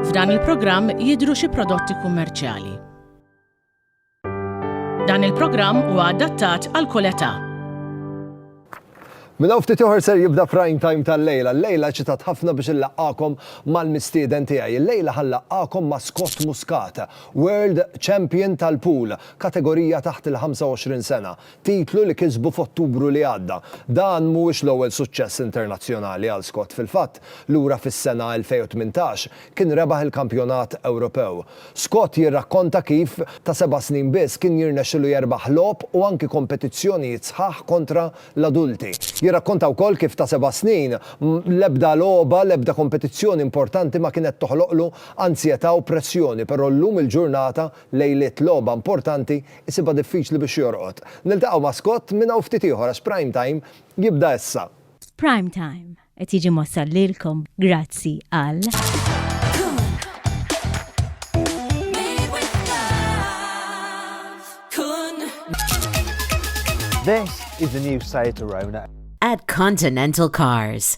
F'dan il-programm jidhru xi prodotti kummerċjali. Dan il-programm huwa adattat għal kull età. Minn hawn ftit ieħor ser jibda prime time tal-lejla. Lejla ċitat ħafna biex illaqgħakom mal-mistieden tiegħi. Lejla ħallaqgħakom ma' Scott Muscat, World Champion tal-pool. kategorija taħt il-25 sena, titlu li kisbu f'Ottubru li għadda. Dan mhuwiex l-ewwel suċċess internazzjonali għal Scott, fil-fatt, lura fis-sena 2018, kien rebaħ il-Kampjonat Ewropew. Scott jirrakkonta kif, ta' seba' snin biss, kien jirnexxilu jerbaħ logħob u anki kompetizzjonijiet sħaħ kontra l-adulti. Jirrakkonta wkoll kif ta' seba' snin, l-ebda logħba, l-ebda kompetizzjoni importanti ma kienet toħloqlu anzjetà u pressjoni, però llum il-ġurnata Lejliet logħba importanti jsibha diffiċli biex jorqod. Niltaqgħu ma' Scott minn hawn ftit ieħor għax Prime Time jibda issa. Prime Time qed jiġi mwassal lilkom grazzi għal. This is the new Seat Arona. At Continental Cars.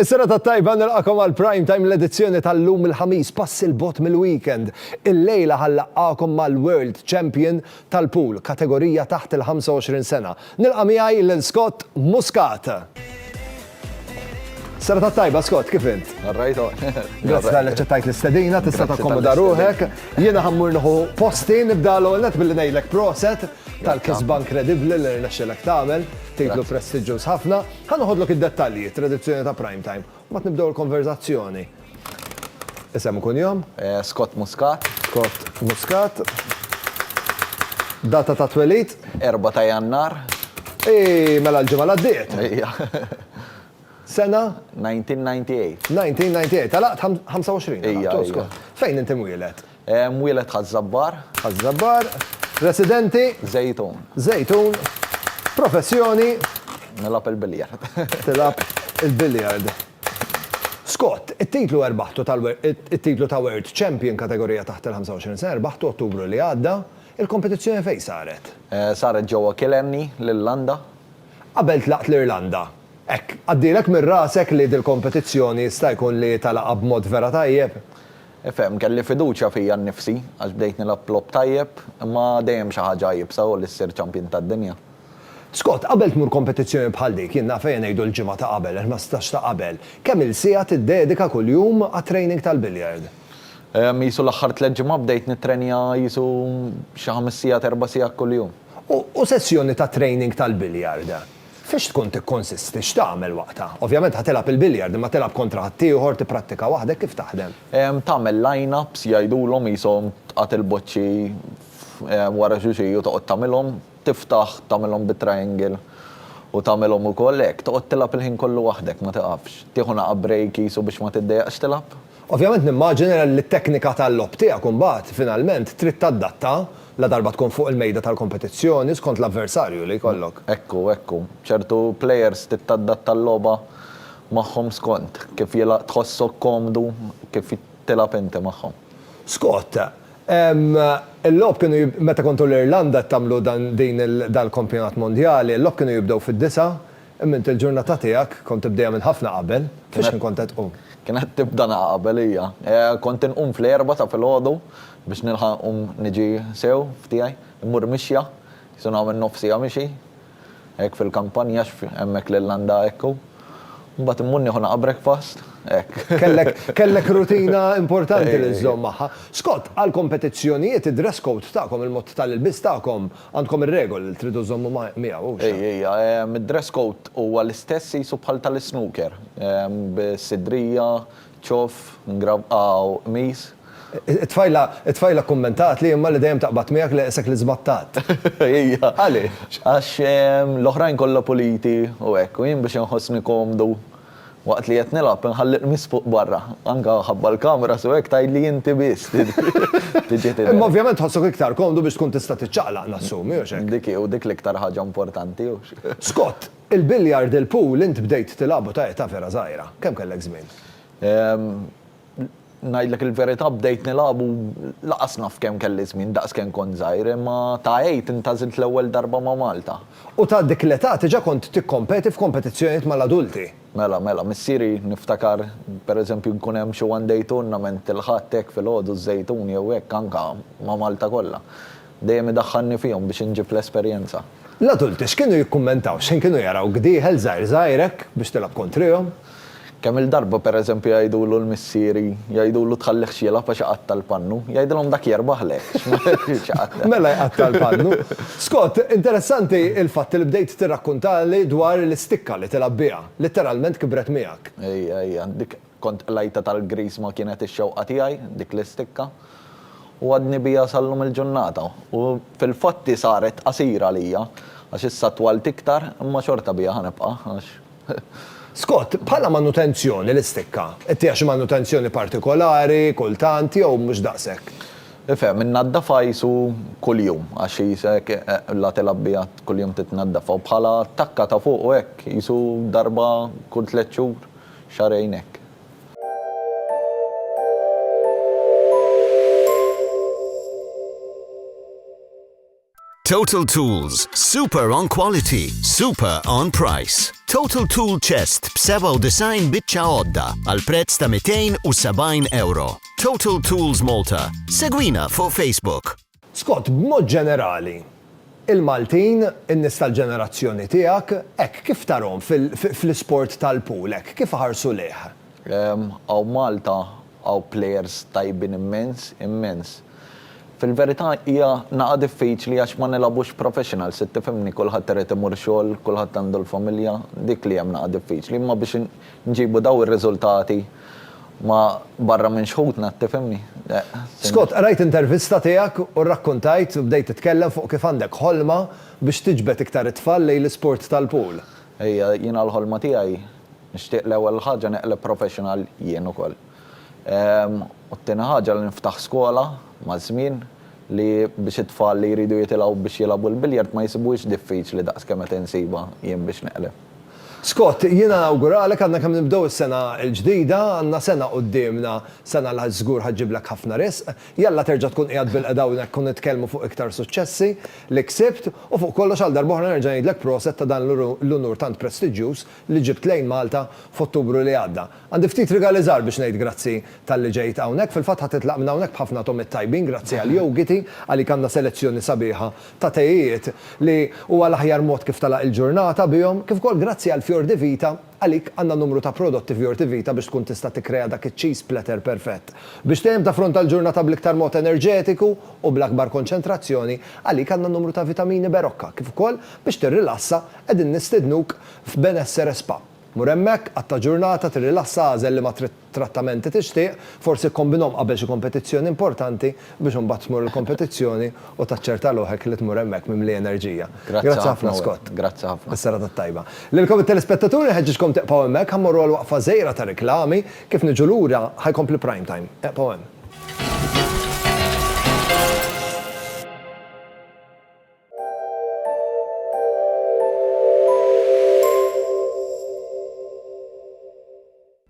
Is-serata t-tajba, nilqakom għal Prime Time l-edizzjoni tal-lum il-Ħamis, pass il-bogħod mill-weekend. Il-lejla ħa nlaqqagħkom mal-World Champion tal-Pool, kategorija taħt il-25 sena. Nilqa' miegħi lil Scott Muscat. Serata t-tajba, Scott, kif int? Narrajt o. Grazzi tal ċettajt l-istedina, tista' takkomoda ruħek. Jiena ħammur nħu posti, nibda l-għonet billi ngħidlek proset tal-kisba inkredibbli li rnexxilek tagħmel, titlu prestiġġuż ħafna. Ħa noħodlok id-dettalji, it-tradizzjoni ta' Prime Time, u mbagħad nibdew il-konverżazzjoni. Isem u kunjom? Scott Muscat. Scott Muscat. Data ta' twelid? 4 ta' Jannar. Eii, mela l-ġimgħa li għaddiet! Ejja. Sena? 1998. 1998. Għalaqt 25? Ejja, ejja. Fejn int imwieled? Mwieled Ħaż-Żabbar. Ħaż-Żabbar. Residenti. Żejtun. Żejtun. Professjoni. Nilgħab il-biljard. Tilgħab il-biljard. Scott, it-titlu erbaħtu it-titlu ta' World Champion kategorija taħt il-25 sena rbaħtu Ottubru li għadda. Il-kompetizzjoni fejn saret? Saret ġewwa Killarney, l-Irlanda. Qabel tlaqt l-Irlanda. Hekk, għaddielek minn rasek li dil-kompetizzjoni jista' jkun li talagħab b'mod vera tajjeb? Ifhem, kelli fiduċja fija nnifsi għax bdejt nilgħab logħob tajjeb, imma dejjem xi ħaġa iebsa hu li ssir champion tad-dinja. Scott, Qabel tmur kompetizzjoni bħal dik, jien naf ejja ngħidu l-ġimgħa ta' qabel, il-ħmistax ta' qabel, kemm-il siegħa tiddedika kuljum għat-training tal-billiard? Ehm, qisu l-aħħar tliet ġimgħat bdejt nittrenja qisu xi ħames sigħat, erba' sigħat kuljum. U sessjoni ta' training tal-billiard? Fiex tkun tikkonsisti? X'tagħmel waqtha? Ovvjament ħa tilgħab il-billiard, imma tilgħab kontra ħaddieħor, tipprattika waħdek, kif taħdem? Tagħmel line-ups, jgħidulhom, qishom tqatt il-boċċi wara xulxin u toqgħod tagħmilhom, tiftaħ tagħmilhom bit-triangle u tagħmilhom ukoll hekk, toqgħod tilgħab il-ħin kollu waħdek, ma tiqafx. Tieħu naqgħa break qisu biex ma tiddejjaqx tilgħab. Ovvjament nimmaġina li t-teknika tal-logħob tiegħek imbagħad finalment trid tadatta ladarba tkun fuq il-mejda tal-kompetizzjoni skont l-avversarju li jkollok. Hekk hu, hekk hu. Ċertu plejers trid tadatta l-logħba magħhom skont kif tħossok komdu kif tilgħab inti magħhom. Scott, il-logħob kienu meta kontu l-Irlanda qed tagħmlu dan il-kampjonat mondjali, il-logħob kienu jibdew fid-disgħa, Imma int il-ġurnata tiegħek kont tibdejha minn ħafna qabel. Fix-xħin kont qed tqum? Kienet tibda na qabel hija. Kont inqum fl-erbgħa ta' filgħodu biex nilħaq inqum niġi sew f'tiegħi. Immur mixja, qisu nagħmel nofs siegħa mixi. Hekk fil-kampanja għax hemmhekk l-Irlanda hekk hu. Mbagħad immur nieħu na breakfast. Hekk. Kellek, kellek rutina importanti li żżomm magħha. Scott, għall-kompetizzjonijiet id-dress code tagħkom, il-mod tal-ilbies tagħkom, Għandkom ir-regoli li tridu żżommu ma' miegħu, hux? Ej, ej, id-dress code huwa l-istess qisu bħal tal-isnooker, bis-sidrija, ċoff, mgravqa u qmis. It-tfajla, it-tfajla kkummentatli imma li dejjem taqbad miegħek leqsek li żbattat. Hija. Għaliex? Għax l-oħrajn kollha puliti u hekk, u jien biex inħossni komdu Waqt li qed nilgħab inħalli l-qmis fuq barra. Anke ħabba l-cameras u hekk tgħidli inti biss tiġi tidher. Imma ovvjament tħossok iktar komdu biex tkun tista' tiċċaqlaq nassumi, hux hekk? Dik hi, u dik l-iktar ħaġa importanti, hux? Scott, Il-billiard il-pool int bdejt tilgħabu ta' età vera żgħira. Kemm kellek żmien? Ngħidlek il-verità bdejt nilgħab u lanqas naf kemm kelli żmien daqs kemm kont żgħir, imma ta' għid intgħażilt l-ewwel darba ma' Malta. U ta' dik l-età diġà kont tikkompeti f'kompetizzjonijiet mal-adulti? Mela, mela, missieri niftakar per eżempju nkun hemm xi one day tournament il-Ħadd hekk filgħodu ż-Żejtun jew hekk anke ma' Malta kollha. Dejjem idaħħalni fihom biex inġib l-esperjenza. L-adulti x'kienu jikkummentaw? X'ħin kienu jarawk dieħel żgħir żgħir hekk biex tilgħab kontrihom? Kemm-il darba, per eżempju, jgħidulu l-missieri, jgħidulu tħallihx jilgħab għax iqatta' l-pannu. Jgħidilhom dak jerbaħlek, għax ma jridx iqatta'. Mela jqatta' l-pannu. Scott, interessanti l-fatt li bdejt tirrakkuntali dwar l-istikka li tilgħab biha. Litteralment kibret miegħek. Ejja, ejja, dik Kont qlajta tal-griż ma kienet ix-xewqa tiegħi dik l-istikka u għadni biha sal-lum il-ġurnata u fil-fatt hi saret qasira għalija għax issa twalt iktar imma xorta biha ħa nibqa' għax Scott, Bħala manutenzjoni l-istikka, ittiha xi manutenzjoni partikolari, kultant, jew mhux daqshekk? Ifhem, innaddafha qisu kuljum għax qisek la tilgħab biha kuljum titnaddafha u bħala takka ta' fuq u hekk qisu darba kull tliet xhur xahrejn hekk. Total Tools, super on quality, super on price. Total Tool Chest b'97 biċċa għodda għal prezz ta' 270 euro. Total Tools Malta. Segwina fuq Facebook. Scott, B'mod ġenerali, il-Maltin, in-nies tal-ġenerazzjoni tiegħek, hekk kif tarahom fl-isport tal-pool, hekk kif iħarsu lejh? Hawn Malta hawn plejers tajbin immens, immens. Fil-verità hija nagħa diffiċli għax ma nilgħabux professional, se tifhimni, kulħadd irid imur xogħol, kulħadd għandu l-familja, dik li hemm nagħa diffiċli, imma biex Nġibu dawn ir-riżultati ma' barra minn xħutna, tifhimni? Scott, qrajt intervista tiegħek u rrakkuntajt u bdejt titkellem fuq kif għandek ħolma biex tiġbed iktar it-tfal lejn l-isport tal-pool. Hija jiena l-ħolma tiegħi, nixtieq l-ewwel ħaġa neqleb professional jien ukoll. U t-tieni ħaġa li niftaħ skola maż-żmien li biex it-tfal li jridu jitilgħu biex jilagħbu l-billiard ma jisibuhiex diffiċli daqs kemm qed insibha jien biex neqleb. Scott, jiena nawguralek għadna kemm nibdew is-sena l-ġdida, għandna sena quddiemna, sena li żgur ħa ġġiblek ħafna risq. Jalla terġa' tkun qiegħed bilqeda hawnhekk u nitkellmu fuq iktar suċċessi li ksibt u fuq kollox għal darb'oħra nerġa' ngħidlek proset ta' dan l-unur tant prestiġġjuż li ġibt lejn Malta f'Ottubru li għadda. Għandi ftit rigali żgħar biex ngħid grazzi talli ġejt hawnhekk, fil-fatt ħa titlaq minn hawnhekk b'ħafna togħmiet tajbin grazzi għal Yogiti, għalik għandna selezzjoni sabiħa ta' tejiet li huwa l-aħjar mod kif tagħlaq il-ġurnata bihom, kif ukoll grazzi għal Fior di Vita, għalik għandna numru ta' prodotti Fior di Vita biex tkun tista' tikkrea dak iċ-cheese platter perfett. Biex dejjem taffronta l-ġurnata bl-iktar mod enerġetiku u bl-akbar konċentrazzjoni, għalik għandna numru ta' vitamini Berocca, kif ukoll biex tirrilassa qegħdin nistednuk f'Benessere Spa. Mur hemmhekk, qatta' ġurnata, tirrilassa, agħżel liema trid trattamenti tixtieq, forsi kkombinhom qabel xi kompetizzjoni importanti biex imbagħad tmur il-kompetizzjoni u taċċerta ruħek li tmur hemmhekk mimli enerġija. Grazzi ħafna Scott. Is-serata t-tajba. Lilkom it-telespettaturi nħeġġiġkom tieqfgħu hemmhekk, ħa mmorru għal waqfa żgħira ta' riklami, kif niġu lura ħa jkompli Prime Time. Eqfgħu hemm.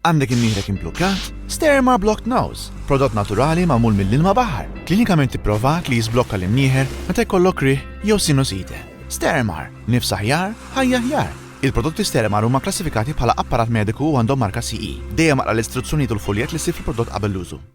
Għandek imnieħrek imblukkat? Sterma Blocked Nose, prodott naturali magħmul mill-ilma baħar, klinikament ipprovat li jiżblokka l-imnieħer meta jkollok rih jew sinusite. Stermar, nifs aħjar, ħajja aħjar. Il-prodotti Stermar huma klassifikati bħala apparat mediku u għandhom marka CE. Dejjem aqra l-istruzzjonijiet u l-fuljett li ssib fil-prodott qabel l-użu.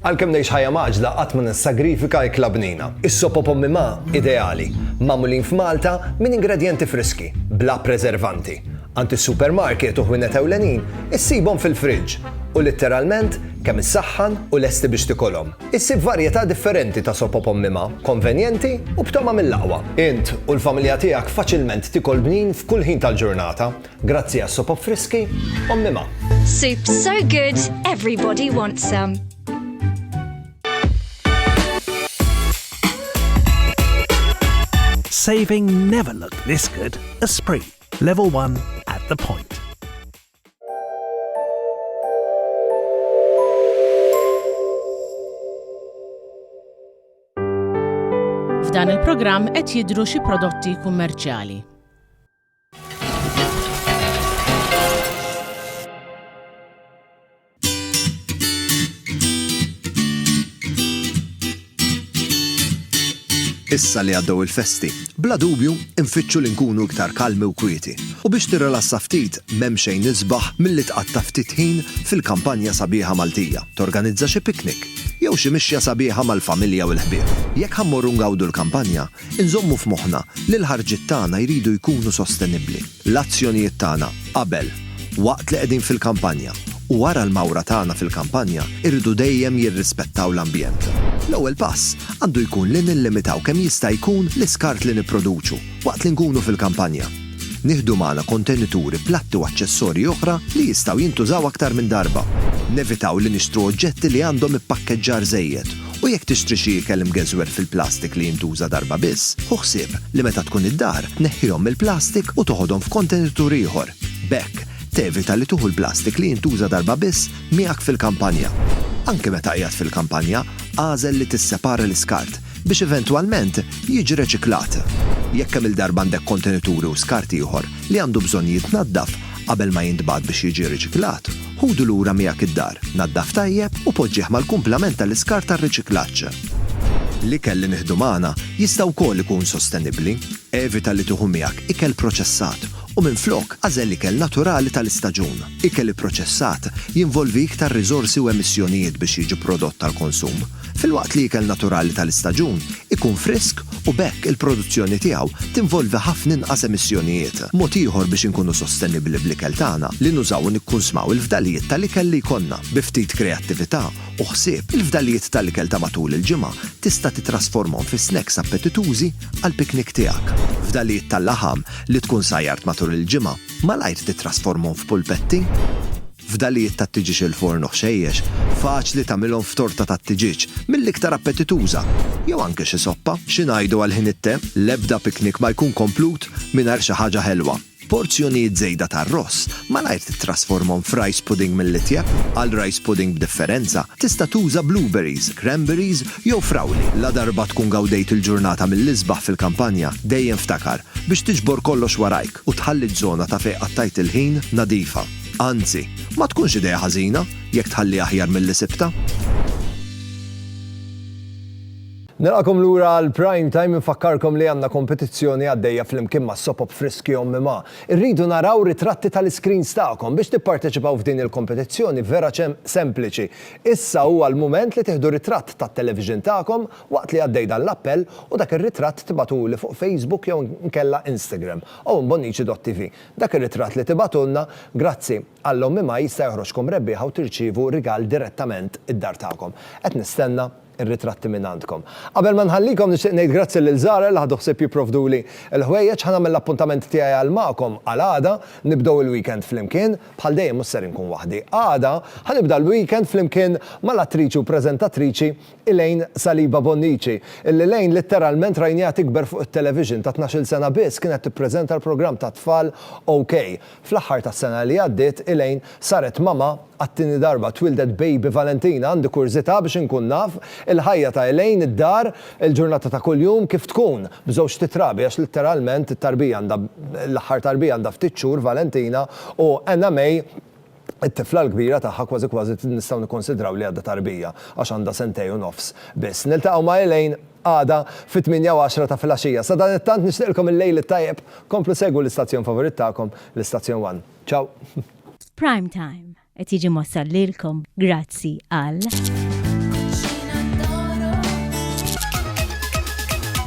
Għalkemm ngħix ħajja mgħaġġla qatt ma nissagrifika ikla bnina. Is-sop o pommi ma, ideali, magħmulin f'Malta minn ingredjenti friski, bla preservanti. Għand is-supermarket u ħwienet ewlenin issibhom fil-fridge u litteralment kemm issaħħan u lesti biex tikolhom. Issib varjetà differenti ta' sop o pommi ma, konvenjenti u b'togħma mill-aqwa. Int u l-familja tiegħek faċilment tikol bnin f'kull ħin tal-ġurnata. Grazzi għas-sopop friski, Ommi Ma. Soup so good, everybody wants some. Saving never looked this good. Esprit, level 1 at the point. F'dan il-programm qed jidru xi prodotti kummerċjali. Issa li għaddew il-festi, bla dubju nfittxu li nkunu iktar kalmi u kwieti, u biex tirrilassa ftit m'hemm xejn isbaħ milli tqatta' ftit ħin fil-kampanja sabiħa Maltija, torganizza xi picnic, jew xi mixja sabiħa mal-familja u l-ħbieb. Jekk ħa mmorru ngawdu l-kampanja, Inżommu f'moħħna li l-ħarġiet tagħna jridu jkunu sostenibbli. L-azzjonijiet tagħna qabel, waqt li qegħdin fil-kampanja, u wara l-mawra tagħna fil-kampanja jridu dejjem jirrispettaw l-ambjent. L-ewwel pass għandu jkun li nillimitaw kemm jista' jkun l-iskart li nipproduċu waqt li nkunu fil-kampanja. Nieħdu magħna kontenituri, platti u aċċessorji oħra li jistgħu jintużaw aktar minn darba. Nevitaw li nixtru oġġetti li għandhom ippakkeġġar żejjed U jekk tixtri xi ikel imgeżwer fil-plastik li jintuża darba biss, ħu ħsieb li meta tkun id-dar, tneħħihom mill-plastik u toħodhom f'kontenitur ieħor. B'hekk, tevita li tuħu l-plastik li jintuża darba biss miegħek fil-kampanja. Anke meta qiegħed fil-kampanja, agħżel li tissepara l-iskart biex eventwalment jiġi reċiklat. Jekk kemm-il darba għandek kontenituri u skart ieħor li għandu bżonn jitnaddaf qabel ma jintbagħat biex jiġi riċiklat, Ħudu lura miegħek id-dar, naddaf tajjeb u poġġih mal-kumplament tal-iskart tar-riċiklaġġ. L-ikel li nieħdu magħna jista' wkoll ikun sostenibbli. Evita li tieħu miegħek ikel proċessat u minflok agħżel ikel naturali tal-istaġun. Ikel ipproċessat jinvolvi iktar riżorsi u emissjonijiet biex jiġi prodott għall-konsum. filwaqt li ikel naturali tal-istaġun ikun frisk u b'hekk il-produzzjoni tiegħu tinvolvi ħafna inqas emissjonijiet. Mod ieħor biex inkunu sostenibbli bl-ikel tagħna li nużaw u nikkunsmaw il-fdalijiet tal-ikel li jkollna. Bi ftit kreattività u ħsieb, il-fdalijiet tal-ikel ta' matul il-ġimgħa tista' titrasformhom fi snacks appetitużi għall-piknik tiegħek. Fdalijiet tal-laħam li tkun sajjart matul il-ġimgħa, malajr titrasformhom f'pulpetti. Fdalijiet tat-tiġieġ il-forn u ħxejjex, faċli tagħmilhom f'torta tat-tiġieġ, mill-iktar appetituża, jew anke xi soppa. Xi ngħidu għal ħin it-te? L-ebda piknik ma jkun komplut mingħajr xi ħaġa ħelwa. Porzjonijiet żejda ta' arross, malajr tittrasformhom f'rice pudding mill-itjeb. Għal rice pudding b'differenza, tista' tuża blueberries, cranberries jew frawli. Ladarba tkun gawdejt il-ġurnata mill-isbaħ fil-kampanja, dejjem ftakar biex tiġbor kollox warajk u tħalli ż-żona ta' fejn qattajt il-ħin nadifa. Anzi, ma tkunx idea ħażina jekk tħalliha aħjar milli sibtha. Nilqakom lura għal Prime Time infakkarkom li għandna kompetizzjoni għaddejja flimkien ma' Sopop Friski Ommi Ma. Irridu naraw ritratti tal-iskrins tagħkom biex tipparteċipaw f'din il-kompetizzjoni vera ċem sempliċi. Issa huwa l-mument li tieħdu ritratt tat-television tagħkom waqt li għaddej dan l-appell u dak ir-ritratt tibatuli fuq Facebook jew nkella Instagram. Owen Bonnici.tv. Dak ir-ritratt li tibagħtulna, grazzi, Alla Ommi Maj jista' joħroġkom rebbieħa u tirċievu rigal direttament id-dar tagħkom. Qed nistenna r-ritratti minn għandkom. Qabel ma nħallikom nixtieq ngħid grazzi lil Zahra li ħadu ħsieb jipprovduli l-ħwejjeġ. Ħa nagħmel l-appuntament tiegħi għal magħkom għal għada, nibdew il-weekend flimkien. Bħal dejjem mhux ser inkun waħdi. Għada, ħa nibda l-weekend flimkien mal-attriċi u preżentatriċi Elaine Saliba Bonnici, li Elaine litteralment rajniha tikber fuq it-television, ta' tnax-il sena biss kienet tippreżenta l-programm tat-tfal OK. Fl-aħħar tas-sena li għaddiet, Elaine saret mama għat-tieni darba, twieldet baby Valentina, għandi kurżità biex inkun naf il-ħajja ta' Elaine, id-dar, il-ġurnata ta' kuljum kif tkun, b'żewġt itrabi għax litteralment it-tarbija għandha, l-aħħar tarbija għandha ftit xhur Valentina u Anna May, It-tifla l-kbira tagħha kważi kważi nistgħu nikkunsidraw li għadha tarbija għax għandha sentej u nofs biss. Niltaqgħu ma' Elaine għada fit-tmienja u għaxra ta' filgħaxija. Sadanittant nixtieqlkom il-lejl it-tajjeb. Komplu segwu l-istazzjon favorit tagħkom, l-istazzjon one. Ciao! Prime Time qed jiġi mwassal lilkom grazzi għal.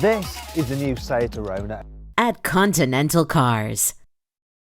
This is the new site to Rona. At Continental Cars.